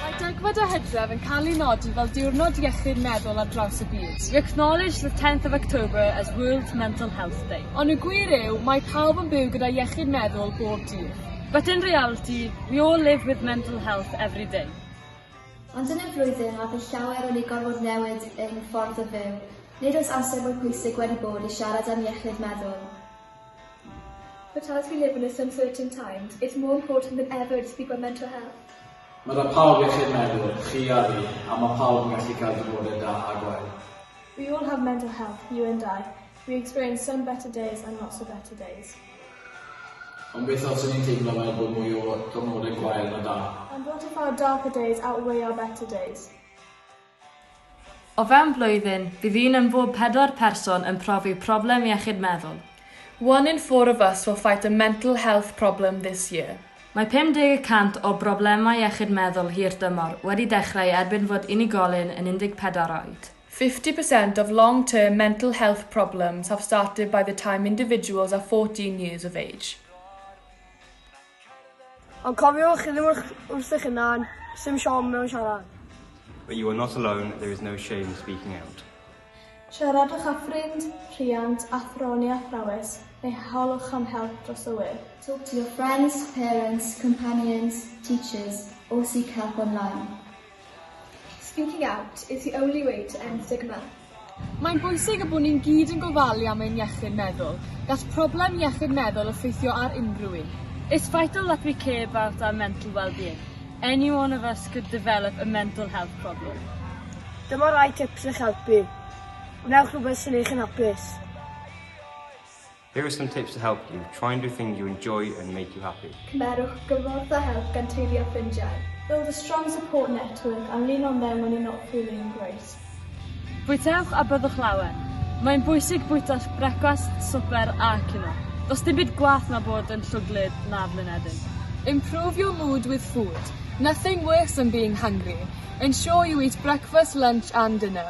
Mae degfed o Hydref yn cael ei nodi fel Diwrnod Iechyd Meddwl ar draws y byd. We acknowledge the 10th of October as World Mental Health Day. Ond y gwir yw, mae pawb yn byw gyda iechyd meddwl bob dydd. But in reality, we all live with mental health every day. Ond yn y flwyddyn a bydd llawer wedi gorfod newid ein ffordd o fyw, nid oes amser mwy pwysig wedi bod i siarad am iechyd meddwl. But as we live in a suncertain times, it's more important than ever to speak about mental health. Mae 'na pawb iechyd meddwl, chi a fi, a mae pawb yn gallu cael diwrnodau da a gwael. We all have mental health, you and I. We experience some better days and not so better days. Ond beth os ni'n teimlo fel bod mwy o diwrnodau gwael na da? And what if our darker days outweigh our better days? O fewn blwyddyn, bydd un yn bob pedwar person yn profi problem iechyd meddwl. One in four of us will fight a mental health problem this year. Mae 50 y cant o broblemau iechyd meddwl hir dymor wedi dechrau erbyn fod unigolyn yn 14 oed. Fifty percent of long-term mental health problems have started by the time individuals are fourteen years of age. Ond cofiwch, chi ddim wrth eich hunan, sim siom mewn siarad. But you are not alone, there is no shame speaking out. Siaradwch â ffrind, rhiant, athro neu athrawes, neu holwch am help dros y we. Talk to your friends, parents, companions, teachers, or seek help online. Speaking out is the only way to end stigma. Mae'n bwysig y bod ni'n gyd yn gofalu am ein iechyd meddwl. Gall problem iechyd meddwl effeithio ar unrhyw un. It's vital that we care about our mental well-being. Any one of us could develop a mental health problem. Dyma rai tips i'ch helpu. Gwnewch rhywbeth sy'n eich yn hapus. Here are some tips to help you, try and do things you enjoy and make you happy. Cymerwch gymorth a help gan teulu a ffrindiau. Build a strong support network and lean on them when you're not feeling great. Bwytewch a byddwch lawen. Mae'n bwysig bwyta brecwast, swper a cinio. Does dim byd gwaeth na bod yn llwglyd na blinedig. Improve your mood with food. Nothing worse than being hungry. Ensure you eat breakfast, lunch and dinner.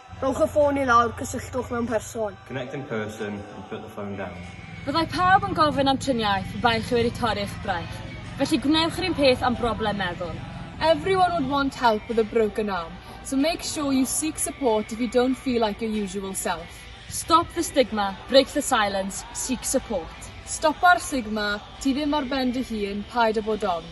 Rhowch y ffôn i lawr, cysylltwch mewn person. Connect in person and put the phone down. Byddai pawb yn gofyn am triniaeth pe baech chi wedi torri eich braich, felly gwnewch yr un peth am broblem meddwl. Everyone would want help with a broken arm, so make sure you seek support if you don't feel like your usual self. Stop the stigma, break the silence, seek support. Stopa'r stigma, ti ddim ar ben dy hun, paid â bod ofn.